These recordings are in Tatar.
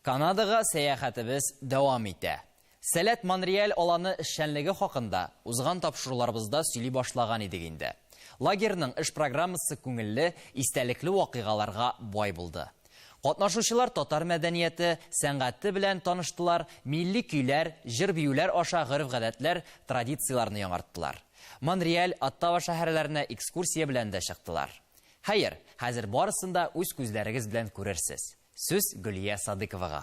Канадага сәяхәтебез дәвам итә. Сәләт Монреаль аланы эшчәнлеге хакында узган тапшыруларыбызда сөйли башлаган идек инде. Лагерьның эш программасы күңелле, истәлекле вакыйгаларга бай булды. Катнашучылар татар мәдәнияте, сәнгате белән таныштылар, милли көйләр, җыр-биюләр аша гореф-гадәтләр, традицияләрне яңарттылар. Монреаль, Оттава шәһәрләренә экскурсия белән дә чыктылар. Хәер, хәзер барысын да үз күзләрегез белән күрерсез. Сүз Гөлия Садыковага.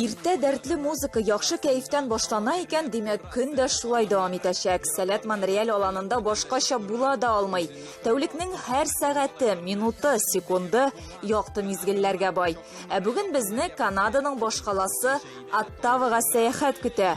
Иртә дәртле музыка, яхшы кәефтән башлана икән, димәк, көн дә шулай дәвам итәчәк. Сәләт Монреаль аланында башкача була да алмый. Тәүлекнең һәр сәгате, минуты, секунды якты мизгелләргә бай. Ә бүген безне Канаданың башкаласы Оттавага сәяхәт көтә.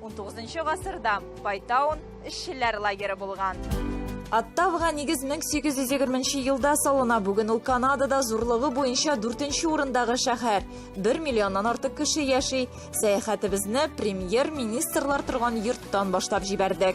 19 гасырда Байтаун эшчеләр лагеры булган. Оттавга нигез 1820 елда салына. Бүген ул Канадада зурлыгы буенча 4 урындагы шәһәр. 1 миллионнан артык кеше яши. Сәяхәтебезне премьер-министрлар торган йорттан башлап җибәрдек.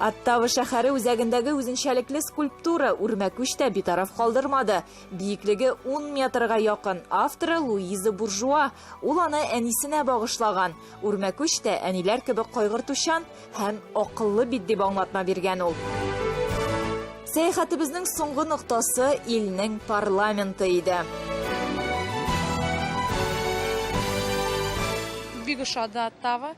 Оттава шәһәре үзәгендәге үзенчәлекле скульптура үрмәкүч тә битараф калдырмады. Биеклеге 10 метрга якын, авторы Луиза Буржуа. Ул аны әнисенә багышлаган. Үрмәкүч тә әниләр кебек кайгыртучан, Һәм акыллы бит дип аңлатма биргән ул. Сәяхәтебезнең соңгы ноктасы илнең парламенты иде. Бик ошады Оттава.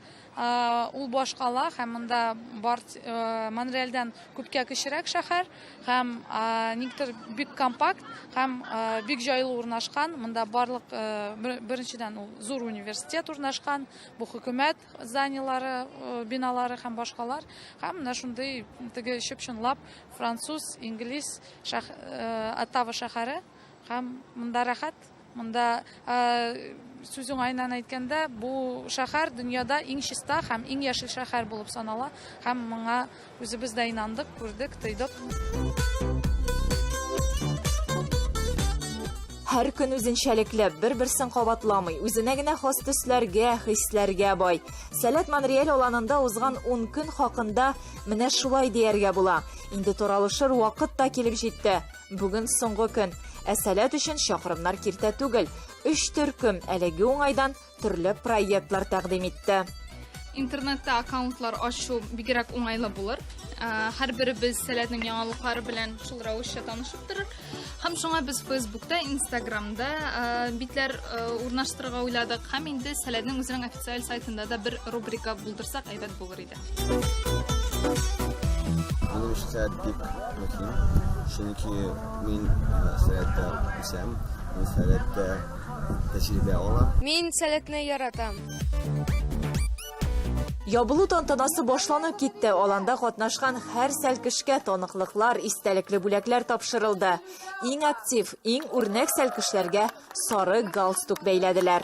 Ул башкала һәм монда бар э, Монреальдән күпкә кечерәк шәһәр һәм никтер бик компакт һәм бик җайлы урнашкан. Монда барлык э, беренчедән ул зур университет урнашкан, бу хөкүмәт зданиеләре, биналары һәм башкалар, һәм менә шундый теге чып-чынлап француз, инглиз шәх, Оттава шәһәре һәм монда рәхәт, монда сүз уңаеннан әйткәндә, бу шәһәр дөньяда иң чиста һәм иң яшел шәһәр булып санала һәм моңа Үзебез дә инандык, күрдек, тойдык. Һәр көн үзенчәлекле, бер-берсен кабатламый, үзенә генә хас төсләргә, хисләргә бай. Сәләт Монреаль аланында узган 10 көн хакында менә шулай дияргә була. Инде торалышыр вакыт та килеп җитте. Бүген соңгы көн. Ә Сәләт өчен чакрымнар киртә түгел. Өч төркем әлеге уңайдан төрле проектлар тәкъдим итте. Интернетта аккаунтлар ачу бигрәк уңайлы булыр. Э, һәрберебез сәләтнең яңалыклары белән шул рәвешчә танышып торыр. Һәм шуңа без Фейсбукта, Инстаграмда э, битләр э, урнаштырырга уйладык. Һәм инде сәләтнең үзенең официаль сайтында да бер рубрика булдырсак әйбәт булыр иде. Минем өчен сәгать бик мөһим, чөнки мин сәгатьтә үсәм, мин сәгатьтә тәҗрибә алам. Мин сәгатьне яратам. Ябылу тантанасы башланып китте. Аланда катнашкан һәр сәлкешкә таныклыклар, истәлекле бүләкләр тапшырылды. Иң актив, иң үрнәк сәлкешләргә сары галстук бәйләделәр.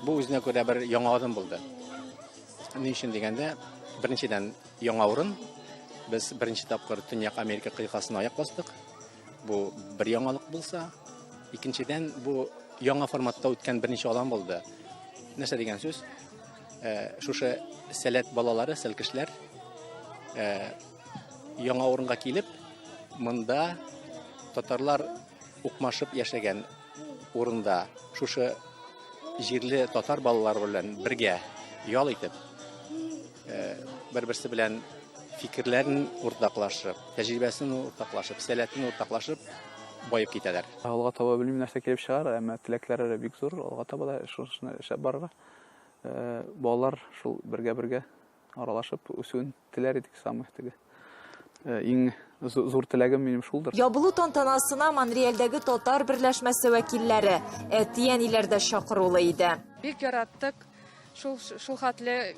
Бу үзенә күрә бер яңа адым булды. Ни өчен дигәндә, беренчедән яңа урын. Без беренче тапкыр Төньяк Америка кыйтгасына аяк бастык. Бу бер яңалык булса, икенчедән бу яңа форматта үткән беренче алан булды. Нәрсә дигән сүз? Э, шушы сәләт балалары, сәлкешләр э, Яңа урынга килеп, монда татарлар укмашып яшәгән урында шушы җирле татар балалары белән бергә ял итеп, э, бер-берсе белән фикерләрен уртаклашып, тәҗрибәсен уртаклашып, сәләтен уртаклашып байып китәләр. Алга таба белмим нәрсә килеп чыгар, әмма теләкләр әле бик зур. Алга таба да шушыны эшләп барырга. Э, балалар шул бергә-бергә аралашып үсүен Теләр идек самых теге. Э, иң зур теләгем минем шулдыр. Ябылу тантанасына Монреальдәге татар берләшмәсе вәкилләре, әти-әниләр дә чакырулы иде. Бик яраттык. Шул шул хәтле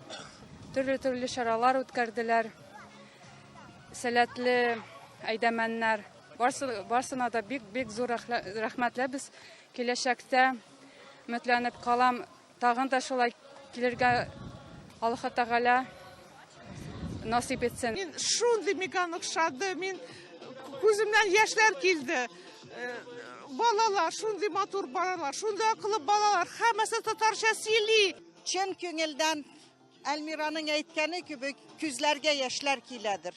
төрле-төрле чаралар үткәрделәр. Сәләтле әйдәмәннәр. Барсына да бик-бик зур рәхмәтләр без киләчәктә өметләнеп калам Тагын да шулай килергә Аллаһ Тәгалә насыйп итсен. Мин шундый миган охшады, мин күземнән яшьләр килде. Э, балалар, шундый матур балалар, шундый акыллы балалар, һәммәсе татарча сөйли. Чын күңелдән Әлмираның әйткәне кебек, күзләргә яшьләр киләдер.